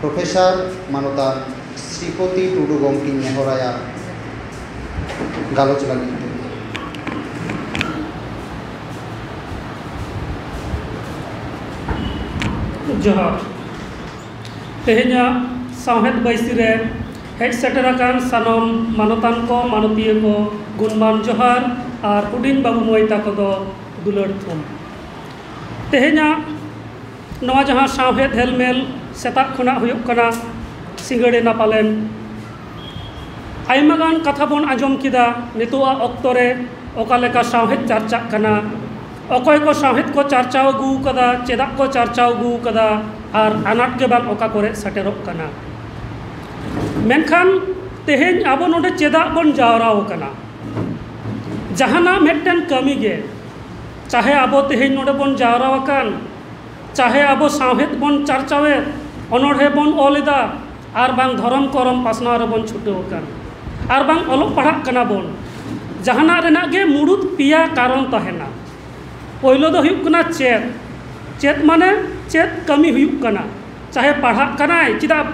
Professor ᱢᱟᱱᱚᱛᱟᱱ ᱥᱨᱤᱯᱚᱛᱤ ᱴᱩᱰᱩ ᱜᱚᱢᱠᱮᱧ ᱱᱮᱦᱚᱨ ᱟᱭᱟ ᱜᱟᱞᱚᱪ ᱞᱟᱹᱜᱤᱫ ᱛᱮ᱾ ᱡᱚᱦᱟᱨ᱾ ᱛᱮᱦᱮᱧᱟᱜ ᱥᱟᱶᱦᱮᱫ ᱵᱟᱹᱭᱥᱤ ᱨᱮ ᱦᱮᱡ ᱥᱮᱴᱮᱨ ᱟᱠᱟᱱ ᱥᱟᱱᱟᱢ ᱢᱟᱱᱚᱛᱟᱱ ᱠᱚ, ᱢᱟᱱᱚᱛᱤᱭᱟᱹ ᱠᱚ ᱜᱩᱱᱢᱟᱱ ᱡᱚᱦᱟᱨ ᱟᱨ ᱦᱩᱰᱤᱧ ᱵᱟᱹᱵᱩ ᱢᱟᱹᱭ ᱛᱟᱠᱚ ᱫᱚ ᱫᱩᱞᱟᱹᱲ ᱛᱷᱩᱢ᱾ ᱛᱮᱦᱮᱧᱟᱜ᱾ ᱱᱚᱣᱟ ᱡᱟᱦᱟᱸ ᱥᱟᱶᱦᱮᱫ ᱦᱮᱞᱢᱮᱞ ᱥᱮᱛᱟᱜ ᱠᱷᱚᱱᱟᱜ ᱦᱩᱭᱩᱜ ᱠᱟᱱᱟ ᱥᱤᱸᱜᱟᱹᱲ ᱮᱱᱟ ᱯᱟᱞᱮᱱ ᱟᱭᱢᱟ ᱜᱟᱱ ᱠᱟᱛᱷᱟ ᱵᱚᱱ ᱟᱸᱡᱚᱢ ᱠᱮᱫᱟ ᱱᱤᱛᱚᱜ ᱟᱜ ᱚᱠᱛᱚ ᱨᱮ ᱚᱠᱟ ᱞᱮᱠᱟ ᱥᱟᱶᱦᱮᱫ ᱪᱟᱨᱪᱟᱜ ᱠᱟᱱᱟ ᱚᱠᱚᱭ ᱠᱚ ᱥᱟᱶᱦᱮᱫ ᱠᱚ ᱪᱟᱨᱪᱟᱣ ᱟᱹᱜᱩ ᱠᱟᱫᱟ ᱪᱮᱫᱟᱜ ᱠᱚ ᱪᱟᱨᱪᱟᱣ ᱟᱹᱜᱩ ᱠᱟᱫᱟ ᱟᱨ ᱟᱱᱟᱴ ᱜᱮ ᱵᱟᱝ ᱚᱠᱟ ᱠᱚᱨᱮᱜ ᱥᱮᱴᱮᱨᱚᱜ ᱠᱟᱱᱟ ᱢᱮᱱᱠᱷᱟᱱ ᱛᱮᱦᱮᱧ ᱟᱵᱚ ᱱᱚᱰᱮ ᱪᱮᱫᱟᱜ ᱵᱚᱱ ᱡᱟᱣᱨᱟ ᱠᱟᱱᱟ ᱡᱟᱦᱟᱱᱟᱜ ᱢᱤᱫᱴᱮᱱ ᱠᱟᱹᱢᱤᱜᱮ ᱪᱟᱦᱮ ᱟᱵᱚ ᱛᱮᱦᱮᱧ ᱱᱚᱰᱮ ᱵᱚᱱ ᱡᱟᱣᱨᱟ ᱟᱠᱟᱱ ᱪᱟᱦᱮ ᱟᱵᱚ ᱥᱟᱶᱦᱮᱫ ᱵᱚᱱ ᱪᱟᱨᱪᱟᱣᱮᱫ ᱚᱱᱚᱬᱦᱮ ᱵᱚᱱ ᱚᱞ ᱮᱫᱟ ᱟᱨ ᱵᱟᱝ ᱫᱷᱚᱨᱚᱢ ᱠᱚᱨᱚᱢ ᱯᱟᱥᱱᱟᱣ ᱨᱮᱵᱚᱱ ᱪᱷᱩᱴᱟᱹᱣ ᱟᱠᱟᱱ ᱟᱨ ᱵᱟᱝ ᱚᱞᱚᱜ ᱯᱟᱲᱦᱟᱜ ᱠᱟᱱᱟ ᱵᱚᱱ ᱡᱟᱦᱟᱱᱟᱜ ᱨᱮᱱᱟᱜ ᱜᱮ ᱢᱩᱬᱩᱛ ᱯᱮᱭᱟ ᱠᱟᱨᱚᱱ ᱛᱟᱦᱮᱱᱟ ᱯᱳᱭᱞᱳ ᱫᱚ ᱦᱩᱭᱩᱜ ᱠᱟᱱᱟ ᱪᱮᱫ ᱪᱮᱫ ᱢᱟᱱᱮ ᱪᱮᱫ ᱠᱟᱹᱢᱤ ᱦᱩᱭᱩᱜ ᱠᱟᱱᱟ ᱪᱟᱦᱮ ᱯᱟᱲᱦᱟᱜ ᱠᱟᱱᱟᱭ ᱪᱮᱫᱟᱜ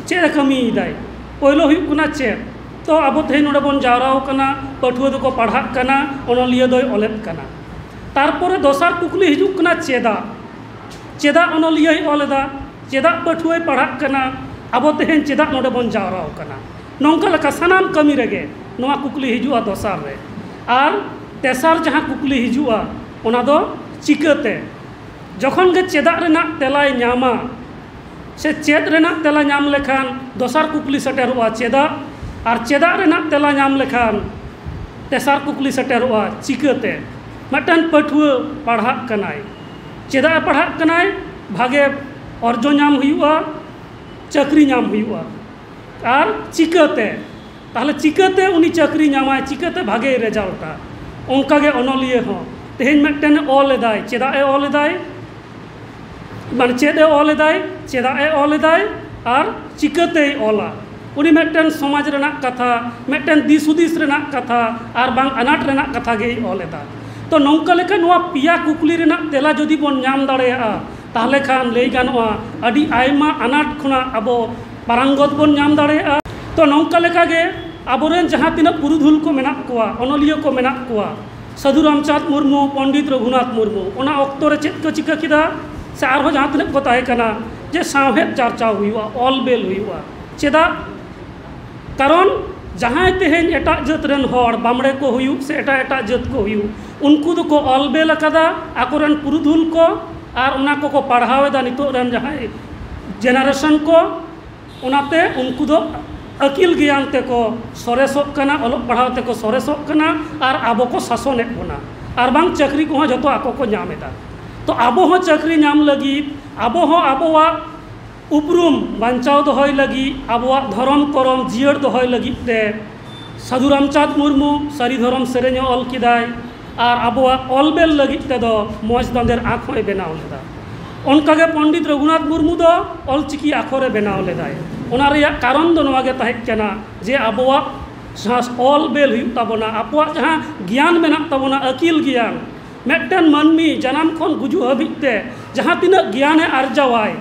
ᱪᱮᱫ ᱮ ᱠᱟᱹᱢᱤᱭᱮᱫᱟᱭ ᱯᱳᱭᱞᱳ ᱦᱩᱭᱩᱜ ᱠᱟᱱᱟ ᱪᱮᱫ ᱛᱚ ᱟᱵᱚ ᱛᱮᱦᱮᱧ ᱱᱚᱰᱮ ᱵᱚᱱ ᱡᱟᱣᱨᱟ ᱟᱠᱟᱱᱟ ᱯᱟᱹᱴᱷᱩᱣᱟᱹ ᱫᱚᱠᱚ ᱯᱟᱲᱦᱟᱜ ᱠᱟᱱᱟ ᱚᱱᱚᱞᱤᱭᱟᱹ ᱫᱚᱭ ᱚᱞᱮᱫ ᱠᱟᱱᱟ ᱛᱟᱨᱯᱚᱨᱮ ᱫᱚᱥᱟᱨ ᱠᱩᱠᱞᱤ ᱦᱤᱡᱩᱜ ᱠᱟᱱᱟ ᱪᱮᱫᱟᱜ ᱪᱮᱫᱟᱜ ᱚᱱᱚᱞᱤᱭᱟᱹᱭ ᱚᱞ ᱮᱫᱟ ᱪᱮᱫᱟᱜ ᱯᱟᱹᱴᱷᱩᱣᱟᱹᱭ ᱯᱟᱲᱦᱟᱜ ᱠᱟᱱᱟ ᱟᱵᱚ ᱛᱮᱦᱮᱧ ᱪᱮᱫᱟᱜ ᱱᱚᱰᱮ ᱵᱚᱱ ᱡᱟᱣᱨᱟ ᱟᱠᱟᱱᱟ ᱱᱚᱝᱠᱟ ᱞᱮᱠᱟ ᱥᱟᱱᱟᱢ ᱠᱟᱹᱢᱤ ᱨᱮᱜᱮ ᱱᱚᱣᱟ ᱠᱩᱠᱞᱤ ᱦᱤᱡᱩᱜᱼᱟ ᱫᱚᱥᱟᱨ ᱨᱮ ᱟᱨ ᱛᱮᱥᱟᱨ ᱡᱟᱦᱟᱸ ᱠᱩᱠᱞᱤ ᱦᱤᱡᱩᱜᱼᱟ ᱚᱱᱟ ᱫᱚ ᱪᱤᱠᱟᱹᱛᱮ ᱡᱚᱠᱷᱚᱱ ᱜᱮ ᱪᱮᱫᱟᱜ ᱨᱮᱱᱟᱜ ᱛᱮᱞᱟᱭ ᱧᱟᱢᱟ ᱥᱮ ᱪᱮᱫ ᱨᱮᱱᱟᱜ ᱛᱮᱞᱟ ᱧᱟᱢ ᱞᱮᱠᱷᱟᱱ ᱫᱚᱥᱟᱨ ᱠᱩᱠᱞᱤ ᱥᱮᱴᱮᱨᱚᱜᱼᱟ ᱪᱮᱫᱟᱜ ᱟᱨ ᱪᱮᱫᱟᱜ ᱨᱮᱱᱟᱜ ᱛᱮᱞᱟ ᱧᱟᱢ ᱞᱮᱠᱷᱟᱱ ᱛᱮᱥᱟᱨ ᱠᱩᱠᱞᱤ ᱥᱮᱴᱮᱨᱚᱜᱼᱟ ᱪᱤᱠᱟᱹᱛᱮ ᱢᱤᱫᱴᱟᱱ ᱯᱟᱹᱴᱷᱩᱣᱟᱹ ᱯᱟᱲᱦᱟᱜ ᱠᱟᱱᱟᱭ ᱪᱮᱫᱟᱜ ᱮ ᱯᱟᱲᱦᱟᱜ ᱠᱟᱱᱟᱭ ᱵᱷᱟᱜᱮ ᱚᱨᱡᱚ ᱧᱟᱢ ᱦᱩᱭᱩᱜᱼᱟ ᱪᱟᱹᱠᱨᱤ ᱧᱟᱢ ᱦᱩᱭᱩᱜᱼᱟ ᱟᱨ ᱪᱤᱠᱟᱹᱛᱮ ᱛᱟᱦᱚᱞᱮ ᱪᱤᱠᱟᱹᱛᱮ ᱩᱱᱤ ᱪᱟᱹᱠᱨᱤ ᱧᱟᱢᱟᱭ ᱪᱤᱠᱟᱹᱛᱮ ᱵᱷᱟᱜᱮᱭ ᱨᱮᱡᱟᱞᱴᱼᱟ ᱚᱱᱠᱟᱜᱮ ᱚᱱᱚᱞᱤᱭᱟᱹ ᱦᱚᱸ ᱛᱮᱦᱤᱧ ᱢᱤᱫᱴᱮᱱ ᱚᱞ ᱮᱫᱟᱭ ᱪᱮᱫᱟᱜ ᱮ ᱚᱞ ᱮᱫᱟᱭ ᱢᱟᱱᱮ ᱪᱮᱫ ᱮ ᱚᱞ ᱮᱫᱟᱭ ᱪᱮᱫᱟᱜ ᱮ ᱚᱞ ᱮᱫᱟᱭ ᱟᱨ ᱪᱤᱠᱟᱹᱛᱮᱭ ᱚᱞᱟ ᱩᱱᱤ ᱢᱤᱫᱴᱮᱱ ᱥᱚᱢᱟᱡᱽ ᱨᱮᱱᱟᱜ ᱠᱟᱛᱷᱟ ᱢᱤᱫᱴᱮᱱ ᱫᱤᱥ ᱦᱩᱫᱤᱥ ᱨᱮᱱᱟᱜ ᱠᱟᱛᱷᱟ ᱟᱨ ᱵᱟᱝ ᱟᱱᱟᱴ ᱨᱮᱱᱟᱜ ᱠᱟᱛᱷᱟ ᱜᱮᱭ ᱚᱞ ᱮᱫᱟ ᱛᱚ ᱱᱚᱝᱠᱟ ᱞᱮᱠᱷᱟᱱ ᱱᱚᱣᱟ ᱯᱮᱭᱟ ᱠᱩᱠᱞᱤ ᱨᱮᱱᱟᱜ ᱛᱮᱞᱟ ᱡᱩᱫᱤ ᱵᱚᱱ ᱧᱟᱢ ᱫᱟᱲᱮᱭᱟᱜᱼᱟ ᱛᱟᱦᱚᱞᱮ ᱠᱷᱟᱱ ᱞᱟᱹᱭ ᱜᱟᱱᱚᱜᱼᱟ ᱟᱹᱰᱤ ᱟᱭᱢᱟ ᱟᱱᱟᱴ ᱠᱷᱚᱱᱟᱜ ᱟᱵᱚ ᱯᱟᱨᱟᱝᱜᱚᱛ ᱵᱚᱱ ᱧᱟᱢ ᱫᱟᱲᱮᱭᱟᱜᱼᱟ ᱛᱚ ᱱᱚᱝᱠᱟ ᱞᱮᱠᱟᱜᱮ ᱟᱵᱚᱨᱮᱱ ᱡᱟᱦᱟᱸ ᱛᱤᱱᱟᱹᱜ ᱯᱩᱨᱩᱫᱷᱩᱞ ᱠᱚ ᱢᱮᱱᱟᱜ ᱠᱚᱣᱟ ᱚᱱᱚᱞᱤᱭᱟᱹ ᱠᱚ ᱢᱮᱱᱟᱜ ᱠᱚᱣᱟ ᱥᱟᱹᱫᱷᱩ ᱨᱟᱢᱪᱟᱸᱫᱽ ᱢᱩᱨᱢᱩ ᱯᱚᱱᱰᱤᱛ ᱨᱚᱜᱷᱩᱱᱟᱛᱷ ᱢᱩᱨᱢᱩ ᱚᱱᱟ ᱚᱠᱛᱚ ᱨᱮ ᱪᱮᱫ ᱠᱚ ᱪᱤᱠᱟᱹ ᱠᱮᱫᱟ ᱥᱮ ᱟᱨᱦᱚᱸ ᱡᱟᱦᱟᱸ ᱛᱤᱱᱟᱹᱜ ᱠᱚ ᱛᱟᱦᱮᱸ ᱠᱟᱱᱟ ᱡᱮ ᱥᱟᱶᱦᱮᱫ ᱪᱟᱨᱪᱟᱣ ᱦᱩᱭᱩᱜᱼᱟ ᱚᱞ ᱵᱮᱞ ᱦᱩᱭᱩᱜᱼᱟ ᱪᱮᱫᱟᱜ ᱠᱟᱨᱚᱱ ᱡᱟᱦᱟᱸᱭ ᱛᱮᱦᱮᱧ ᱮᱴᱟᱜ ᱡᱟᱹᱛ ᱨᱮᱱ ᱦᱚᱲ ᱵᱟᱢᱲᱮ ᱠᱚ ᱦᱩᱭᱩᱜ ᱥᱮ ᱮᱴᱟᱜ ᱮᱴᱟᱜ ᱡᱟᱹᱛ ᱠᱚ ᱦᱩᱭᱩᱜ ᱩᱱᱠᱩ ᱫᱚᱠᱚ ᱚᱞ ᱵᱮᱞ ᱟᱠᱟᱫᱟ ᱟᱠᱚ ᱨᱮᱱ ᱯᱩᱨᱩᱫᱷᱩᱞ ᱠᱚ ᱟᱨ ᱚᱱᱟ ᱠᱚᱠᱚ ᱯᱟᱲᱦᱟᱣ ᱮᱫᱟ ᱱᱤᱛᱚᱜ ᱨᱮᱱ ᱡᱟᱦᱟᱸᱭ ᱡᱮᱱᱟᱨᱮᱥᱚᱱ ᱠᱚ ᱚᱱᱟᱛᱮ ᱩᱱᱠᱩ ᱫᱚ ᱟᱹᱠᱤᱞ ᱜᱮᱭᱟᱱ ᱛᱮᱠᱚ ᱥᱚᱨᱮᱥᱚᱜ ᱠᱟᱱᱟ ᱚᱞᱚᱜ ᱯᱟᱲᱦᱟᱣ ᱛᱮᱠᱚ ᱥᱚᱨᱮᱥᱚᱜ ᱠᱟᱱᱟ ᱟᱨ ᱟᱵᱚ ᱠᱚ ᱥᱟᱥᱚᱱᱮᱜ ᱵᱚᱱᱟ ᱟᱨ ᱵᱟᱝ ᱪᱟᱹᱠᱨᱤ ᱠᱚᱦᱚᱸ ᱡᱚᱛᱚ ᱟᱠᱚ ᱠᱚ ᱧᱟᱢ ᱮᱫᱟ ᱛᱚ ᱟᱵᱚ ᱦᱚᱸ ᱪᱟᱹᱠᱨᱤ ᱧᱟᱢ ᱞᱟᱹᱜᱤᱫ ᱟᱵᱚ ᱦᱚᱸ ᱟᱵᱚᱣᱟᱜ ᱩᱯᱨᱩᱢ ᱵᱟᱧᱪᱟᱣ ᱫᱚᱦᱚᱭ ᱞᱟᱹᱜᱤᱫ ᱟᱵᱚᱣᱟᱜ ᱫᱷᱚᱨᱚᱢ ᱠᱚᱨᱚᱢ ᱡᱤᱭᱟᱹᱲ ᱫᱚᱦᱚᱭ ᱞᱟᱹᱜᱤᱫ ᱛᱮ ᱥᱟᱹᱫᱷᱩ ᱨᱟᱢᱪᱟᱸᱫᱽ ᱢᱩᱨᱢᱩ ᱥᱟᱹᱨᱤ ᱫᱷᱚᱨᱚᱢ ᱥᱮᱨᱮᱧᱮ ᱚᱞ ᱠᱮᱫᱟᱭ ᱟᱨ ᱟᱵᱚᱣᱟᱜ ᱚᱞ ᱵᱮᱞ ᱞᱟᱹᱜᱤᱫ ᱛᱮᱫᱚ ᱢᱚᱡᱽ ᱫᱟᱸᱫᱮᱨ ᱟᱸᱠ ᱦᱚᱸᱭ ᱵᱮᱱᱟᱣ ᱞᱮᱫᱟ ᱚᱱᱠᱟ ᱜᱮ ᱯᱚᱱᱰᱤᱛ ᱨᱟᱹᱜᱷᱩᱱᱟᱛᱷ ᱢᱩᱨᱢᱩ ᱫᱚ ᱚᱞ ᱪᱤᱠᱤ ᱟᱠᱷᱚᱨᱮ ᱵᱮᱱᱟᱣ ᱞᱮᱫᱟᱭ ᱚᱱᱟ ᱨᱮᱭᱟᱜ ᱠᱟᱨᱚᱱ ᱫᱚ ᱱᱚᱣᱟ ᱜᱮ ᱛᱟᱦᱮᱸ ᱠᱟᱱᱟ ᱡᱮ ᱟᱵᱚᱣᱟᱜ ᱡᱟᱦᱟᱸ ᱚᱞ ᱵᱮᱞ ᱦᱩᱭᱩᱜ ᱛᱟᱵᱚᱱᱟ ᱟᱠᱚᱣᱟᱜ ᱡᱟᱦᱟᱸ ᱜᱮᱭᱟᱱ ᱢᱮᱱᱟᱜ ᱛᱟᱵᱚᱱᱟ ᱟᱹᱠᱤᱞ ᱜᱮᱭᱟᱱ ᱢᱤᱫᱴᱟᱱ ᱢᱟᱹᱱᱢᱤ ᱡᱟᱱᱟᱢ ᱠᱷᱚᱱ ᱜᱩᱡᱩᱜ ᱦᱟᱹᱵᱤᱡ ᱛᱮ ᱡᱟᱦᱟᱸ ᱛᱤᱱᱟᱹᱜ ᱜᱮᱭᱟᱱᱮ ᱟᱨᱡᱟᱣᱟᱭ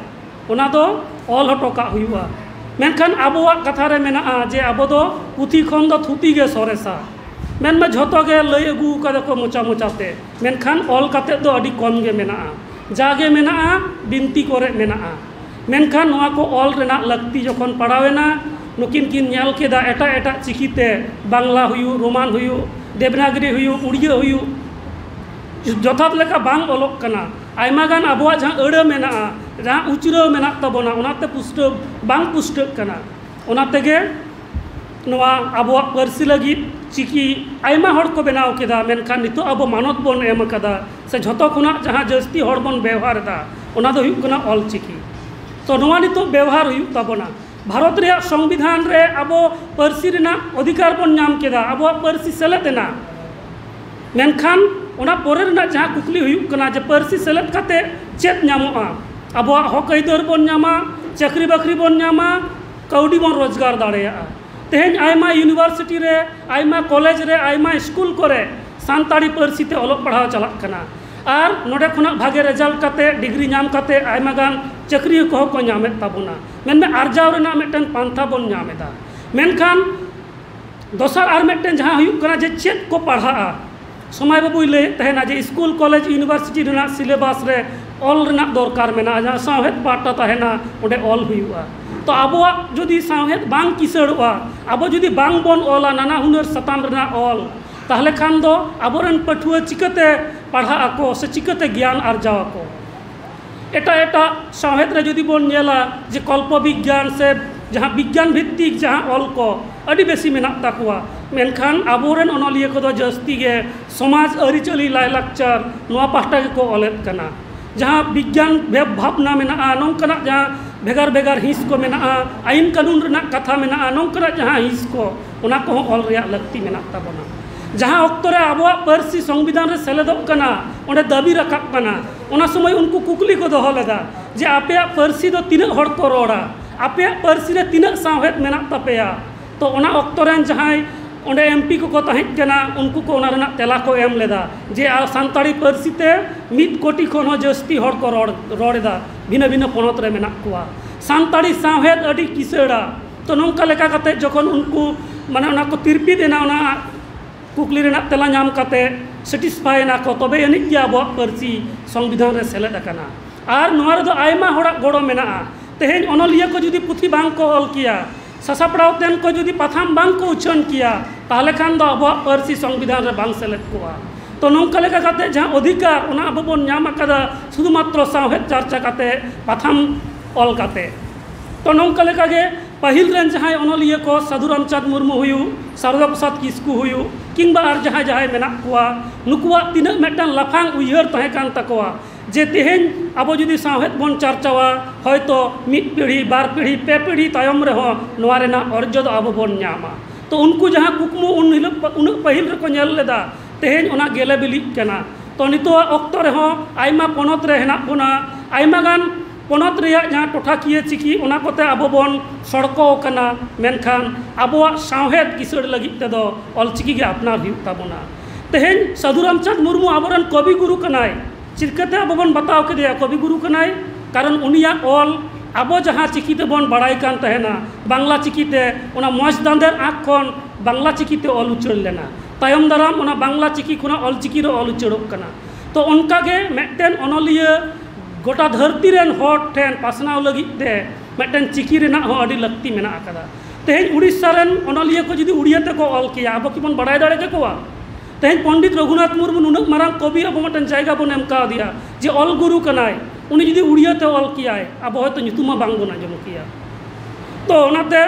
ᱚᱱᱟ ᱫᱚ ᱚᱞ ᱦᱚᱴᱚ ᱠᱟᱜ ᱦᱩᱭᱩᱜᱼᱟ ᱢᱮᱱᱠᱷᱟᱱ ᱟᱵᱚᱣᱟᱜ ᱠᱟᱛᱷᱟ ᱨᱮ ᱢᱮᱱᱟᱜᱼᱟ ᱡᱮ ᱟᱵᱚ ᱫᱚ ᱯᱩᱛᱷᱤ ᱠᱷᱚᱱ ᱫᱚ ᱛᱷᱩᱛᱤ ᱜᱮ ᱥᱚᱨᱮᱥᱟ ᱢᱮᱱᱢᱟ ᱡᱷᱚᱛᱚ ᱜᱮ ᱞᱟᱹᱭ ᱟᱹᱜᱩ ᱠᱟᱫᱟ ᱠᱚ ᱢᱚᱪᱟ ᱢᱚᱪᱟᱛᱮ ᱢᱮᱱᱠᱷᱟᱱ ᱚᱞ ᱠᱟᱛᱮ ᱫᱚ ᱟᱹᱰᱤ ᱠᱚᱢ ᱜᱮ ᱢᱮᱱᱟᱜᱼᱟ ᱡᱟᱜᱮ ᱢᱮᱱᱟᱜᱼᱟ ᱵᱤᱱᱛᱤ ᱠᱚᱨᱮᱜ ᱢᱮᱱᱟᱜᱼᱟ ᱢᱮᱱᱠᱷᱟᱱ ᱱᱚᱣᱟ ᱠᱚ ᱚᱞ ᱨᱮᱱᱟᱜ ᱞᱟᱹᱠᱛᱤ ᱡᱚᱠᱷᱚᱱ ᱯᱟᱲᱟᱣ ᱮᱱᱟ ᱱᱩᱠᱤᱱ ᱠᱤᱱ ᱧᱮᱞ ᱠᱮᱫᱟ ᱮᱴᱟᱜ ᱮᱴᱟᱜ ᱪᱤᱠᱤᱛᱮ ᱵᱟᱝᱞᱟ ᱦᱩᱭᱩᱜ ᱨᱳᱢᱟᱱ ᱦᱩᱭᱩᱜ ᱫᱮᱵᱽᱱᱟᱜᱚᱨᱤ ᱦᱩᱭᱩᱜ ᱩᱲᱤᱭᱟ ᱦᱩᱭᱩᱜ ᱡᱚᱛᱷᱟᱛ ᱞᱮᱠᱟ ᱵᱟᱝ ᱚᱞᱚᱜ ᱠᱟᱱᱟ ᱟᱭᱢᱟ ᱜᱟᱱ ᱟᱵᱚᱣᱟᱜ ᱡᱟᱦᱟᱸ ᱟᱹᱲᱟᱹ ᱢᱮᱱᱟᱜᱼᱟ ᱡᱟᱦᱟᱸ ᱩᱪᱨᱟᱹᱣ ᱢᱮᱱᱟᱜ ᱛᱟᱵᱚᱱᱟ ᱚᱱᱟᱛᱮ ᱯᱩᱥᱴᱟᱹᱣ ᱵᱟᱝ ᱯᱩᱥᱴᱟᱹᱜ ᱠᱟᱱᱟ ᱚᱱᱟ ᱛᱮᱜᱮ ᱱᱚᱣᱟ ᱟᱵᱚᱣᱟᱜ ᱯᱟᱹᱨᱥᱤ ᱞᱟᱹᱜᱤᱫ ᱪᱤᱠᱤ ᱟᱭᱢᱟ ᱦᱚᱲ ᱠᱚ ᱵᱮᱱᱟᱣ ᱠᱮᱫᱟ ᱢᱮᱱᱠᱷᱟᱱ ᱱᱤᱛᱚᱜ ᱟᱵᱚ ᱢᱟᱱᱚᱛ ᱵᱚᱱ ᱮᱢ ᱠᱟᱫᱟ ᱥᱮ ᱡᱷᱚᱛᱚ ᱠᱷᱚᱱᱟᱜ ᱡᱟᱦᱟᱸ ᱡᱟᱹᱥᱛᱤ ᱦᱚᱲ ᱵᱚᱱ ᱵᱮᱣᱦᱟᱨᱫᱟ ᱚᱱᱟ ᱫᱚ ᱦᱩᱭᱩᱜ ᱠᱟᱱᱟ ᱚᱞ ᱪᱤᱠᱤ ᱛᱚ ᱱᱚᱣᱟ ᱱᱤᱛᱚᱜ ᱵᱮᱣᱦᱟᱨ ᱦᱩᱭᱩᱜ ᱛᱟᱵᱚᱱᱟ ᱵᱷᱟᱨᱚᱛ ᱨᱮᱭᱟᱜ ᱥᱚᱝᱵᱤᱫᱷᱟᱱ ᱨᱮ ᱟᱵᱚ ᱯᱟᱹᱨᱥᱤ ᱨᱮᱱᱟᱜ ᱚᱫᱷᱤᱠᱟᱨ ᱵᱚᱱ ᱧᱟᱢ ᱠᱮᱫᱟ ᱟᱵᱚᱣᱟᱜ ᱯᱟᱹᱨᱥᱤ ᱥᱮᱞᱮᱫ ᱮᱱᱟ ᱢᱮᱱᱠᱷᱟᱱ ᱚᱱᱟ ᱯᱚᱨᱮ ᱨᱮᱱᱟᱜ ᱡᱟᱦᱟᱸ ᱠᱩᱠᱞᱤ ᱦᱩᱭᱩᱜ ᱠᱟᱱᱟ ᱡᱮ ᱯᱟᱹᱨᱥᱤ ᱥᱮᱞᱮᱫ ᱠᱟᱛᱮᱫ ᱪᱮᱫ ᱧᱟᱢᱚᱜᱼᱟ ᱟᱵᱚᱣᱟᱜ ᱦᱚᱸᱠ ᱟᱹᱭᱫᱟᱹᱨ ᱵᱚᱱ ᱧᱟᱢᱟ ᱪᱟᱹᱠᱨᱤ ᱵᱟᱹᱠᱨᱤ ᱵᱚᱱ ᱧᱟᱢᱟ ᱠᱟᱹᱣᱰᱤ ᱵᱚᱱ ᱨᱳᱡᱽᱜᱟᱨ ᱫᱟᱲᱮᱭᱟᱜᱼᱟ ᱛᱮᱦᱮᱧ ᱟᱭᱢᱟ ᱤᱭᱩᱱᱤᱵᱷᱟᱨᱥᱤᱴᱤ ᱨᱮ ᱟᱭᱢᱟ ᱠᱚᱞᱮᱡᱽ ᱨᱮ ᱟᱭᱢᱟ ᱤᱥᱠᱩᱞ ᱠᱚᱨᱮ ᱥᱟᱱᱛᱟᱲᱤ ᱯᱟᱹᱨᱥᱤ ᱛᱮ ᱚᱞᱚᱜ ᱯᱟᱲᱦᱟᱣ ᱪᱟᱞᱟᱜ ᱠᱟᱱᱟ ᱟᱨ ᱱᱚᱰᱮ ᱠᱷᱚᱱᱟᱜ ᱵᱷᱟᱜᱮ ᱨᱮᱡᱟᱞᱴ ᱠᱟᱛᱮᱫ ᱰᱤᱜᱽᱨᱤ ᱧᱟᱢ ᱠᱟᱛᱮᱫ ᱟᱭᱢᱟ ᱜᱟᱱ ᱪᱟᱹᱠᱨᱤ ᱠᱚᱦᱚᱸ ᱠᱚ ᱧᱟᱢᱮᱫ ᱛᱟᱵᱚᱱᱟ ᱢᱮᱱᱫᱚ ᱟᱨᱡᱟᱣ ᱨᱮᱱᱟᱜ ᱢᱤᱫᱴᱟᱱ ᱯᱟᱱᱛᱷᱟ ᱵᱚᱱ ᱧᱟᱢ ᱮᱫᱟ ᱢᱮᱱᱠᱷᱟᱱ ᱫᱚᱥᱟᱨ ᱟᱨ ᱢᱤᱫᱴᱮᱱ ᱡᱟᱦᱟᱸ ᱦᱩᱭᱩᱜ ᱠᱟᱱᱟ ᱡᱮ ᱪᱮᱫ ᱠᱚ ᱯᱟᱲᱦᱟᱜᱼᱟ ᱥᱚᱢᱟᱭ ᱵᱟᱹᱵᱩᱭ ᱞᱟᱹᱭᱮᱫ ᱛᱟᱦᱮᱱᱟ ᱡᱮ ᱤᱥᱠᱩᱞ ᱠᱚᱞᱮᱡᱽ ᱤᱭᱩᱱᱤᱵᱷᱟᱨᱥᱤᱴᱤ ᱨᱮᱱᱟᱜ ᱥᱤᱞᱮᱵᱟᱥ ᱨᱮ ᱚᱞ ᱨᱮᱱᱟᱜ ᱫᱚᱨᱠᱟᱨ ᱢᱮᱱᱟᱜᱼᱟ ᱡᱟᱦᱟᱸ ᱥᱟᱶᱦᱮᱫ ᱯᱟᱦᱴᱟ ᱛᱟᱦᱮᱱᱟ ᱚᱸᱰᱮ ᱚᱞ ᱦᱩᱭᱩᱜᱼᱟ ᱛᱚ ᱟᱵᱚᱣᱟᱜ ᱡᱩᱫᱤ ᱥᱟᱶᱦᱮᱫ ᱵᱟᱝ ᱠᱤᱥᱟᱹᱬᱚᱜᱼᱟ ᱟᱵᱚ ᱡᱩᱫᱤ ᱵᱟᱝ ᱵᱚᱱ ᱚᱞᱟ ᱱᱟᱱᱟ ᱦᱩᱱᱟᱹᱨ ᱥᱟᱛᱟᱢ ᱨᱮᱱᱟᱜ ᱚᱞ ᱛᱟᱦᱚᱞᱮ ᱠᱷᱟᱱ ᱫᱚ ᱟᱵᱚ ᱨᱮᱱ ᱯᱟᱹᱴᱷᱩᱣᱟᱹ ᱪᱤᱠᱟᱹᱛᱮ ᱯᱟᱲᱦᱟᱜ ᱟᱠᱚ ᱥᱮ ᱪᱤᱠᱟᱹᱛᱮ ᱜᱮᱭᱟᱱ ᱟᱨᱡᱟᱣ ᱟᱠᱚ ᱮᱴᱟᱜ ᱮᱴᱟᱜ ᱥᱟᱶᱦᱮᱫ ᱨᱮ ᱡᱩᱫᱤ ᱵᱚᱱ ᱧᱮᱞᱟ ᱡᱮ ᱠᱚᱞᱯᱚ ᱵᱤᱜᱽᱜᱟᱱ ᱥᱮ ᱡᱟᱦᱟᱸ ᱵᱤᱜᱽᱜᱟᱱ ᱵᱷᱤᱛᱛᱤᱠ ᱡᱟᱦᱟᱸ ᱚᱞ ᱠᱚ ᱟᱹᱰᱤ ᱵᱮᱥᱤ ᱢᱮᱱᱟᱜ ᱛᱟᱠᱚᱣᱟ ᱢᱮᱱᱠᱷᱟᱱ ᱟᱵᱚ ᱨᱮᱱ ᱚᱱᱚᱞᱤᱭᱟᱹ ᱠᱚᱫᱚ ᱡᱟᱹᱥᱛᱤ ᱜᱮ ᱥᱚᱢᱟᱡᱽ ᱟᱹᱨᱤᱪᱟᱹᱞᱤ ᱞᱟᱭᱼᱞᱟᱠᱪᱟᱨ ᱱᱚᱣᱟ ᱯᱟᱥᱴᱟ ᱜᱮᱠᱚ ᱚᱞᱮᱫ ᱠᱟᱱᱟ ᱡᱟᱦᱟᱸ ᱵᱤᱜᱽᱜᱟᱱ ᱵᱷᱟᱵᱽᱱᱟ ᱢᱮᱱᱟᱜᱼᱟ ᱱᱚᱝᱠᱟᱱᱟᱜ ᱡᱟᱦᱟᱸ ᱵᱷᱮᱜᱟᱨ ᱵᱷᱮᱜᱟᱨ ᱦᱤᱸᱥ ᱠᱚ ᱢᱮᱱᱟᱜᱼᱟ ᱟᱹᱭᱤᱱ ᱠᱟᱹᱱᱩᱱ ᱨᱮᱱᱟᱜ ᱠᱟᱛᱷᱟ ᱢᱮᱱᱟᱜᱼᱟ ᱱᱚᱝᱠᱟᱱᱟᱜ ᱡᱟᱦᱟᱸ ᱦᱤᱸᱥ ᱠᱚ ᱚᱱᱟ ᱠᱚᱦᱚᱸ ᱚᱞ ᱨᱮᱭᱟᱜ ᱞᱟᱹᱠᱛᱤ ᱢᱮᱱᱟᱜ ᱛᱟᱵᱚᱱᱟ ᱡᱟᱦᱟᱸ ᱚᱠᱛᱚ ᱨᱮ ᱟᱵᱚᱣᱟᱜ ᱯᱟᱹᱨᱥᱤ ᱥᱚᱝᱵᱤᱫᱷᱟᱱ ᱨᱮ ᱥᱮᱞᱮᱫᱚᱜ ᱠᱟᱱᱟ ᱚᱸᱰᱮ ᱫᱟᱹᱵᱤ ᱨᱟᱠᱟᱵ ᱠᱟᱱᱟ ᱚᱱᱟ ᱥᱚᱢᱚᱭ ᱩᱱᱠᱩ ᱠᱩᱠᱞᱤ ᱠᱚ ᱫᱚᱦᱚ ᱞᱮᱫᱟ ᱡᱮ ᱟᱯᱮᱭᱟᱜ ᱯᱟᱹᱨᱥᱤ ᱫᱚ ᱛᱤᱱᱟᱹᱜ ᱦᱚᱲ ᱠᱚ ᱨᱚᱲᱟ ᱟᱯᱮᱭᱟᱜ ᱯᱟᱹᱨᱥᱤ ᱨᱮ ᱛᱤᱱᱟᱹᱜ ᱥᱟᱶᱦᱮᱫ ᱢᱮᱱᱟᱜ ᱛᱟᱯᱮᱭᱟ ᱛᱚ ᱚᱱᱟ ᱚᱠᱛᱚ ᱨᱮᱱ ᱡᱟᱦᱟᱸᱭ ᱚᱸᱰᱮ ᱮᱢ ᱯᱤ ᱠᱚᱠᱚ ᱛᱟᱦᱮᱸ ᱠᱟᱱᱟ ᱩᱱᱠᱩ ᱠᱚ ᱚᱱᱟ ᱨᱮᱱᱟᱜ ᱛᱮᱞᱟ ᱠᱚ ᱮᱢ ᱞᱮᱫᱟ ᱡᱮ ᱥᱟᱱᱛᱟᱲᱤ ᱯᱟᱹᱨᱥᱤ ᱛᱮ ᱢᱤᱫ ᱠᱳᱴᱤ ᱠᱷᱚᱱ ᱦᱚᱸ ᱡᱟᱹᱥᱛᱤ ᱦᱚᱲ ᱠᱚ ᱨᱚᱲ ᱨᱚᱲ ᱮᱫᱟ ᱵᱷᱤᱱᱟᱹ ᱵᱷᱤᱱᱟᱹ ᱯᱚᱱᱚᱛ ᱨᱮ ᱢᱮᱱᱟᱜ ᱠᱚᱣᱟ ᱥᱟᱱᱛᱟᱲᱤ ᱥᱟᱶᱦᱮᱫ ᱟᱹᱰᱤ ᱠᱤᱥᱟᱹᱬᱟ ᱛᱚ ᱱᱚᱝᱠᱟ ᱞᱮᱠᱟ ᱠᱟᱛᱮᱫ ᱡᱚᱠᱷᱚᱱ ᱩᱱᱠᱩ ᱢᱟᱱᱮ ᱚᱱᱟ ᱠᱚ ᱛᱤᱨᱯᱤᱛ ᱮᱱᱟ ᱚᱱᱟ ᱠᱩᱠᱞᱤ ᱨᱮᱱᱟᱜ ᱛᱮᱞᱟ ᱧᱟᱢ ᱠᱟᱛᱮᱫ ᱥᱮᱴᱤᱥᱯᱷᱟᱭ ᱮᱱᱟ ᱠᱚ ᱛᱚᱵᱮ ᱟᱹᱱᱤᱡ ᱜᱮ ᱟᱵᱚᱣᱟᱜ ᱯᱟᱹᱨᱥᱤ ᱥᱚᱝᱵᱤᱫᱷᱟᱱ ᱨᱮ ᱥᱮᱞᱮᱫ ᱟᱠᱟᱱᱟ ᱟᱨ ᱱᱚᱣᱟ ᱨᱮᱫᱚ ᱟᱭᱢᱟ ᱦᱚᱲᱟᱜ ᱜᱚᱲᱚ ᱢᱮᱱᱟᱜᱼᱟ ᱛᱮᱦᱮᱧ ᱚᱱᱚᱞᱤᱭᱟᱹ ᱠᱚ ᱡᱩᱫᱤ ᱯᱩᱛᱷᱤ ᱵᱟᱝ ᱠᱚ ᱚᱞ ᱠᱮᱭᱟ ᱥᱟᱥᱟᱯᱲᱟᱣ ᱛᱮᱱ ᱠᱚ ᱡᱩᱫᱤ ᱯᱟᱛᱷᱟᱢ ᱵᱟᱝ ᱠᱚ ᱩᱪᱷᱟᱹᱱ ᱠᱮᱭᱟ ᱛᱟᱦᱚᱞᱮ ᱠᱷᱟᱱ ᱫᱚ ᱟᱵᱚᱣᱟᱜ ᱯᱟᱹᱨᱥᱤ ᱥᱚᱝᱵᱤᱫᱷᱟᱱ ᱨᱮ ᱵᱟᱝ ᱥᱮᱞᱮᱫ ᱠᱚᱜᱼᱟ ᱛᱚ ᱱᱚᱝᱠᱟ ᱞᱮᱠᱟ ᱠᱟᱛᱮᱫ ᱡᱟᱦᱟᱸ ᱚᱫᱷᱤᱠᱟᱨ ᱚᱱᱟ ᱟᱵᱚ ᱵᱚᱱ ᱧᱟᱢ ᱟᱠᱟᱫᱟ ᱥᱩᱫᱷᱩ ᱢᱟᱛᱨᱚ ᱥᱟᱶᱦᱮᱫ ᱪᱟᱨᱪᱟ ᱠᱟᱛᱮᱫ ᱯᱟᱛᱷᱟᱢ ᱚᱞ ᱠᱟᱛᱮᱫ ᱛᱚ ᱱᱚᱝᱠᱟ ᱞᱮᱠᱟᱜᱮ ᱯᱟᱹᱦᱤᱞ ᱨᱮᱱ ᱡᱟᱦᱟᱸᱭ ᱚᱱᱚᱞᱤᱭᱟᱹ ᱠᱚ ᱥᱟᱹᱫᱷᱩ ᱨᱟᱢᱪᱟᱸᱫᱽ ᱢᱩᱨᱢᱩ ᱦᱩᱭᱩᱜ ᱥᱟᱨᱚᱫᱟ ᱯᱨᱚᱥᱟᱫᱽ ᱠᱤᱥᱠᱩ ᱦᱩᱭᱩᱜ ᱠᱤᱢᱵᱟ ᱟᱨ ᱡᱟᱦᱟᱸᱭ ᱡᱟᱦᱟᱸᱭ ᱢᱮᱱᱟᱜ ᱠᱚᱣᱟ ᱱᱩᱠᱩᱣᱟᱜ ᱛᱤᱱᱟᱹᱜ ᱢᱤᱫᱴᱟᱱ ᱞᱟᱯᱷᱟᱝ ᱩᱭᱦᱟᱹᱨ ᱛᱟᱦᱮᱸ ᱠᱟᱱ ᱛᱟᱠᱚᱣᱟ ᱡᱮ ᱛᱮᱦᱮᱧ ᱟᱵᱚ ᱡᱩᱫᱤ ᱥᱟᱶᱦᱮᱫ ᱵᱚᱱ ᱪᱟᱨᱪᱟᱣᱟ ᱦᱚᱭᱛᱳ ᱢᱤᱫ ᱯᱤᱲᱦᱤ ᱵᱟᱨ ᱯᱤᱲᱦᱤ ᱯᱮ ᱯᱤᱲᱦᱤ ᱛᱟᱭᱚᱢ ᱨᱮᱦᱚᱸ ᱱᱚᱣᱟ ᱨᱮᱱᱟᱜ ᱚᱨᱡᱚ ᱫᱚ ᱟᱵᱚ ᱵᱚᱱ ᱧᱟᱢᱟ ᱛᱚ ᱩᱱᱠᱩ ᱡᱟᱦᱟᱸ ᱠᱩᱠᱢᱩ ᱩᱱ ᱦᱤᱞᱳᱜ ᱩᱱᱟᱹᱜ ᱯᱟᱹᱦᱤᱞ ᱨᱮᱠᱚ ᱧᱮᱞ ᱞᱮᱫᱟ ᱛᱮᱦᱮᱧ ᱚᱱᱟ ᱜᱮᱞᱮ ᱵᱤᱞᱤᱜ ᱠᱟᱱᱟ ᱛᱚ ᱱᱤᱛᱚᱜ ᱟᱜ ᱚᱠᱛᱚ ᱨᱮᱦᱚᱸ ᱟᱭᱢᱟ ᱯᱚᱱᱚᱛ ᱨᱮ ᱦᱮᱱᱟᱜ ᱵᱚᱱᱟ ᱟᱭᱢᱟ ᱜᱟᱱ ᱯᱚᱱᱚᱛ ᱨᱮᱭᱟᱜ ᱡᱟᱦᱟᱸ ᱴᱚᱴᱷᱟᱠᱤᱭᱟᱹ ᱪᱤᱠᱤ ᱚᱱᱟ ᱠᱚᱛᱮ ᱟᱵᱚ ᱵᱚᱱ ᱥᱚᱲᱠᱚ ᱟᱠᱟᱱᱟ ᱢᱮᱱᱠᱷᱟᱱ ᱟᱵᱚᱣᱟᱜ ᱥᱟᱶᱦᱮᱫ ᱠᱤᱥᱟᱹᱬ ᱞᱟᱹᱜᱤᱫ ᱛᱮᱫᱚ ᱚᱞ ᱪᱤᱠᱤ ᱜᱮ ᱟᱯᱱᱟᱨ ᱦᱩᱭᱩᱜ ᱛᱟᱵᱚᱱᱟ ᱛᱮᱦᱮᱧ ᱥᱟᱹᱫᱷᱩ ᱨᱟᱢᱪᱟᱸᱫᱽ ᱢᱩᱨᱢᱩ ᱟᱵᱚ ᱨᱮᱱ ᱠᱚᱵᱤ ᱜᱩᱨᱩ ᱠᱟᱱᱟᱭ ᱪᱤᱠᱟᱹᱛᱮ ᱟᱵᱚ ᱵᱚᱱ ᱵᱟᱛᱟᱣ ᱠᱮᱫᱮᱭᱟ ᱠᱚᱵᱤ ᱜᱩᱨᱩ ᱠᱟᱱᱟᱭ ᱠᱟᱨᱚᱱ ᱩᱱᱤᱭᱟᱜ ᱚᱞ ᱟᱵᱚ ᱡᱟᱦᱟᱸ ᱪᱤᱠᱤ ᱛᱮᱵᱚᱱ ᱵᱟᱲᱟᱭ ᱠᱟᱱ ᱛᱟᱦᱮᱱᱟ ᱵᱟᱝᱞᱟ ᱪᱤᱠᱤ ᱛᱮ ᱚᱱᱟ ᱢᱚᱡᱽ ᱫᱟᱸᱫᱷᱮᱨ ᱟᱸᱠ ᱠᱷᱚᱱ ᱵᱟᱝᱞᱟ ᱪᱤᱠᱤ ᱛᱮ ᱚᱞ ᱩᱪᱟᱹᱲ ᱞᱮᱱᱟ ᱛᱟᱭᱚᱢ ᱫᱟᱨᱟᱢ ᱚᱱᱟ ᱵᱟᱝᱞᱟ ᱪᱤᱠᱤ ᱠᱷᱚᱱᱟᱜ ᱚᱞ ᱪᱤᱠᱤ ᱨᱮ ᱚᱞ ᱩᱪᱟᱹᱲᱚᱜ ᱠᱟᱱᱟ ᱛᱚ ᱚᱱᱠᱟᱜᱮ ᱢᱤᱫᱴᱮᱱ ᱚᱱᱚᱞᱤᱭᱟᱹ ᱜᱚᱴᱟ ᱫᱷᱟᱹᱨᱛᱤ ᱨᱮᱱ ᱦᱚᱲ ᱴᱷᱮᱱ ᱯᱟᱥᱱᱟᱣ ᱞᱟᱹᱜᱤᱫ ᱛᱮ ᱢᱤᱫᱴᱮᱱ ᱪᱤᱠᱤ ᱨᱮᱱᱟᱜ ᱦᱚᱸ ᱟᱹᱰᱤ ᱞᱟᱹᱠᱛᱤ ᱢᱮᱱᱟᱜ ᱠᱟᱫᱟ ᱛᱮᱦᱮᱧ ᱩᱲᱤᱥᱥᱟ ᱨᱮᱱ ᱚᱱᱚᱞᱤᱭᱟᱹ ᱠᱚ ᱡᱩᱫᱤ ᱩᱲᱤᱭᱟ ᱛᱮᱠᱚ ᱚᱞ ᱠᱮᱭᱟ ᱟᱵᱚ ᱠᱤᱵᱚᱱ ᱵᱟᱲᱟᱭ ᱫᱟᱲᱮ ᱠᱮᱠᱚᱣᱟ ᱛᱮᱦᱮᱧ ᱯᱚᱱᱰᱤᱛ ᱨᱚᱜᱷᱩᱱᱟᱛᱷ ᱢᱩᱨᱢᱩ ᱱᱩᱱᱟᱹᱜ ᱢᱟᱨᱟᱝ ᱠᱚᱵᱤ ᱟᱵᱚ ᱢᱤᱫᱴᱮᱱ ᱡᱟᱭᱜᱟ ᱵᱚᱱ ᱮᱢ ᱠᱟᱣᱫᱮᱭᱟ ᱡᱮ ᱚᱞ ᱜᱩᱨᱩ ᱠᱟᱱᱟᱭ ᱩᱱᱤ ᱡᱩᱫᱤ ᱩᱲᱤᱭᱟ ᱛᱮ ᱚᱞ ᱠᱮᱭᱟᱭ ᱟᱵᱚ ᱦᱚᱭᱛᱳ ᱧᱩᱛᱩᱢ ᱦᱚᱸ ᱵᱟᱝ ᱵᱚᱱ ᱟᱸᱡᱚᱢ ᱠᱮᱭᱟ ᱛᱚ ᱚᱱᱟᱛᱮ